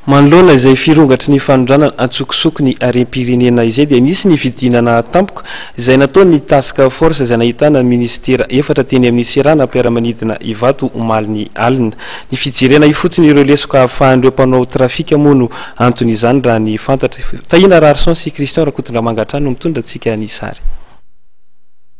Manoloana izay firongatry ny fanondranana an-tsokosoko ny harem-pirenena izay dia nisy ny fidinana tampoka izay nataon'ny Task Force izay nahitana ny minisitera efatra teny amin'ny seranam-piaramanidina Ivato omalin'ny alina. Ny fijerena ifotony ireo lesoka hahafahan'ireo mpanao trafika moa no anton'izany raha ny fantatra. Tahina Raharison sy Christian Rakotondramanga hatrany no mitondra antsika ny sary.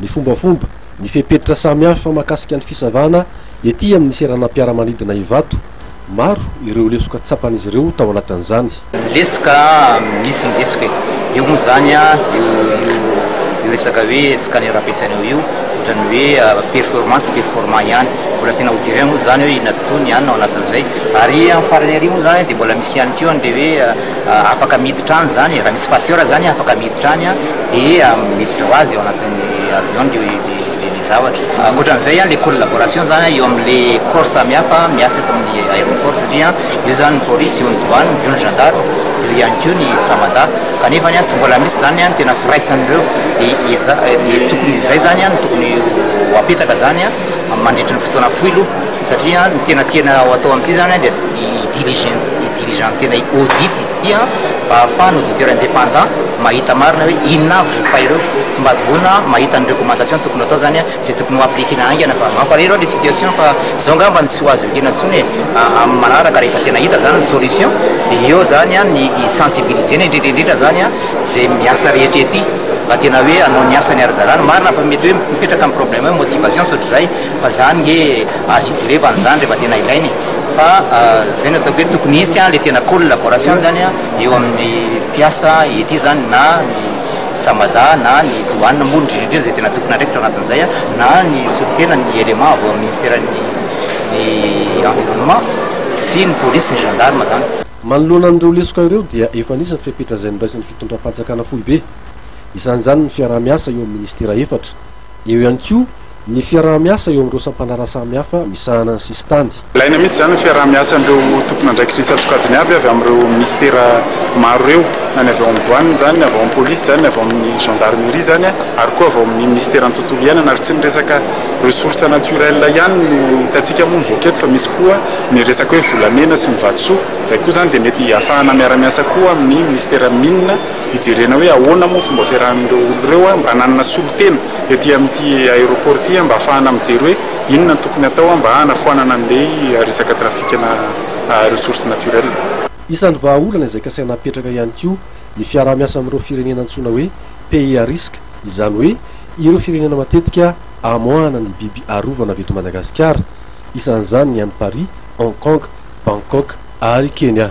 ny fombafomba, ny fepetra samihafa mahakasika ny fisavana ety amin'ny seranam-piaramanidina Ivato. Maro ireo lesoka tsapan'izy ireo tao anatin'izany. Lesoka, misy ny lesoka e! Io moa izany, io resaka hoe scanner ampiasaina ao io, ohatran'ny hoe performant tsy performant ihany. Mbola tena ho jerena moa izany hoe inona tokoa ny anona ao anatin'izay. Ary amin'ny farany àry moa izany dia mbola misy ihany koa an'ilay hoe Afaka miditra any zany e, raha misy passeur zany afaka miditra any dia miditra ho azy ao anatin'ny avion le le zavatra. Ankoatran'izay an, le collaboration zany eo amin'le corps samihafa miasa eto amin'ny aéroport satria eo zany ny polisy, eo ny douane, eo ny gendarme, eo ihany koa ny samada kanefany an tsy mbola misy zany an tena firaisan'ireo de eza de tokony izay zany an no tokony ho apetraka zany an mandritry ny fotoana fohy aloha satria ny tena tiana ho atao amin'ity zany an dia i diriger-na. dirigeant tena hi-audit izy ity an, mba ahafahan'ny auditeur indépendant mahita marina hoe inona avy ireo fay ireo, sy mba azahoana mahita ny recommandation tokony hatao zany an, izay tokony ho appliquer-na haingana fa mampalahelo an le situation fa zao ngamba no tsy ho azo ekena tsony e, amin'ny manaraka rehefa tena hita zany ny solution dia eo zany an ny hi-sensibiliser-na indrindra indrindra zany an izay miasa rehetra ety mba tena hoe hanao ny asany ara-dalàna, marina fa mety hoe mipetraka ny problème hoe motivation sy ohatr'izay. Fa zany nge azo ijerevana zany rehefa tena ilaina e! Fa zay no ataoko hoe tokony hisy an le tena collaboration zany an eo amin'ny mpiasa ety zany na ny Samada na ny douane moa indrindra indrindra zay tena tokony andraikitra ao anatin'izay an na ny solontena ny élément avy ao amin'ny ministeran'ny ny environnement sy ny police sy ny gendarme zany. Manoloana an'ireo lesoka ireo dia efa nisy ny fepetra izay noraisin'ny fitondram-panjakana foibe. Isan'izany ny fiaraha-miasa eo amin'ny ministera efatra. Eo ihany koa ny fiaraha-miasa eo amin'ireo sampandraharaha samihafa misahana ny sisintany. Ilaina mihitsy izany ny fiaraha-miasan'ireo tompon'andraikitry ny satrokajiny avy avy amin'ireo minisitera maro ireo, na ny avy ao amin'ny Douane izany, ny avy ao amin'ny Polisy izany, ny avy ao amin'ny Gendarmerie izany, ary koa avy ao amin'ny Minisiteran'ny Tontolo Iainana. Ary tsy ny resaka ressources naturelles ihany no hitantsika moa mivoaka eto fa misy koa ny resaka hoe volamena sy ny vatosoa. Izay koa izany dia mety hahafahana miara-miasa koa amin'ny Minisiteran'ny Mines. hijerena hoe ahoana moa fomba fiarahan'ireo olona ireo mba hananana solontena ety amin'ity aéroport ity mba hahafahana mijery hoe inona no tokony hatao mba hanafoanana an'ilay resaka trafic-na ressources naturelles. Isan'ny vahaolana izay kasaina hapetraka ihany koa ny fiaraha-miasa amin'ireo firenena antsoina hoe pays à risque, izany hoe ireo firenena matetika amoahana ny biby arovana avy eto Madagasikara. Isan'izany ny any Paris, Hong Kong, Bangkok ary Kenya.